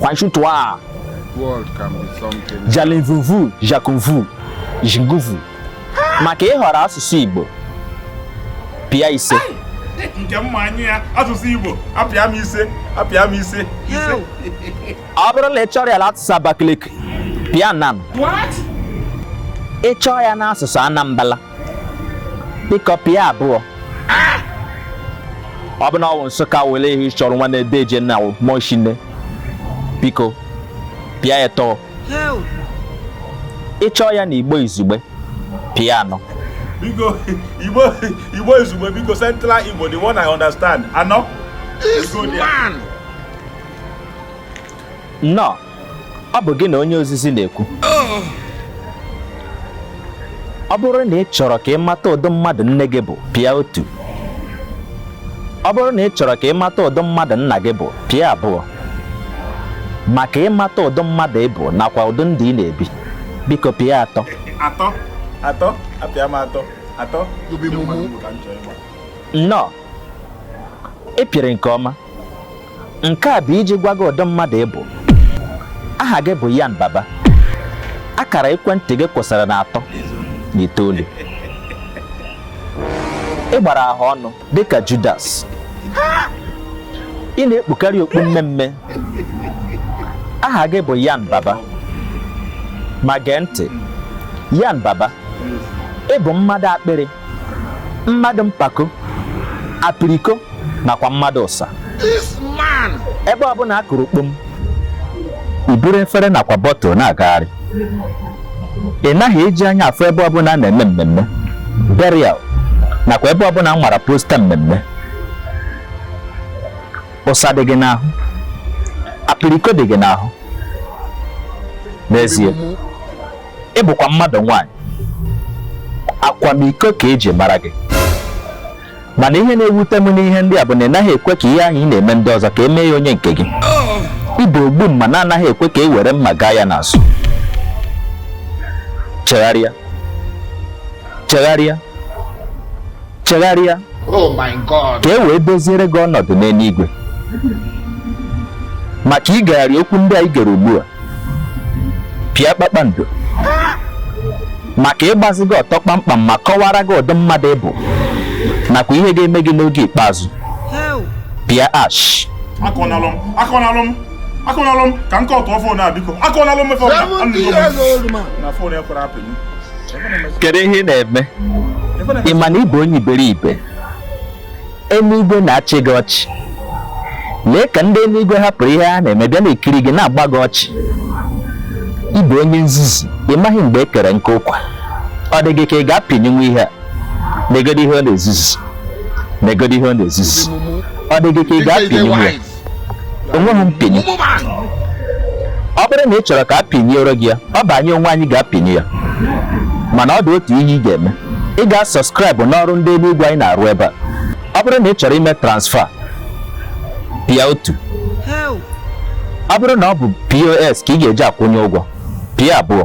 Kwanshutua. World can be something. Jalinvuvu, Jakunvu, Jinguvu. Maka ịhọrọ asụsụ Igbo. Pịa ise. Nke mma anyị ya asụsụ Igbo apịa m ise apịa m ise ise. Ọ bụrụ la ị chọrọ ya la asụsụ Abakaliki, pịa nan. What? Ị chọọ ya n'asụsụ Anambra. biko pịa abụọ ọ bụ na ọ bụ nsụka wele ihe ị chọrọ nwanne deeje na mọshine biko pịa etọ ị chọọ ya na igbo izugbe pịa anọ biko igbo igbo izugbe biko central igbo the one i understand anọ This man. No. ọ bụ gị na onye ozizi na-ekwu ọ bụrụ na ị chọrọ ka ị mata ụdị mmadụ nne gị bụ pịa otu ọ bụrụ na ị chọrọ ka ị mata ụdị mmadụ nna gị bụ pịa abụọ maka ịmata ụdị mmadụ ị bụ nakwa ụdị ndụ ị na-ebi biko pịa atọ atọ atọ apịa m atọ atọ nnọọ ị pịrị nke ọma nke a bụ iji gwa gị ụdị mmadụ ị bụ aha gị bụ Yan Baba akara ekwentị gị kwụsịrị na atọ na itoolu ị gbara ahụ ọnụ dịka Judas ị na-ekpukarị okpu mmee mmee aha gị bụ Yan Baba ma gee ntị Yan Baba ị bụ mmadụ akpịrị mmadụ mpako apiriko nakwa mmadụ ụsa ebe ọbụla a kụrụ kpom i buru efere nakwa bọtụl na-agagharị ị naghị eji anya afụ ebe ọbụla a na-eme mmemme burial nakwa ebe ọbụla nwara posta mmemme ụsa dị gị n'ahụ apiriko dị gị n'ahụ n'ezie ị bụkwa mmadụ nwaanyị akwamiko ka e ji mara gị mana ihe na-ewute m n'ihe ndị a bụ na ị naghị ekwe ka ihe ahụ ị na-eme ndị ọzọ ka e mee ya onye nke gị ị bụ ogbu mma na-anaghị ekwe ka e were mma gaa ya n'azụ chegharịa chegharịa chegharịa oh ka e wee doziere gị ọnọdụ n'eluigwe maka igegharị okwu ndị a i gere ugbu a pịa kpakpando maka ịgbazi gị ọtọ kpamkpam ma kọwara gị ụdị mmadụ ị bụ nakwa ihe ga-eme gị n'oge ikpeazụ pịa hash akọnalụ m akọnalụ m akọnalụ m ka m kọtụọ fon a biko akọnalụ m ife na fon ekwerọ apịnyụ kedu ihe ị na-eme ị ma na ị bụ onye iberibe eluigwe na-achị gị ọchị lee ka ndị eluigwe hapụrụ ihe ha na-eme bịa na-ekiri gị na-agba gị ọchị ị bụ onye nzuzu ị maghị mgbe e kere nkụ ụkwa ọ dị gị ka ị ga-apịnyụnwu ihe a negodi ihe ọ na-ezuzu negodi ihe ọ na-ezuzu ọ dị gị ka ị ga-apịnyụnwu ya o nweghị mpịnyụ ọ bụrụ na ị chọrọ ka a pịnyụọrọ gị ya ọ bụ anyị onwe anyị ga-apịnyụ ya mana ọ dị otu ihe ị ga-eme ị ga-asọskraịbụ n'ọrụ ndị eluigwe anyị na-arụ ebe a ọ bụrụ na ị chọrọ ime transfa pịa otu ọ bụrụ na ọ bụ pos ka ị ga-eji akwụ anyị ụgwọ pịa abụọ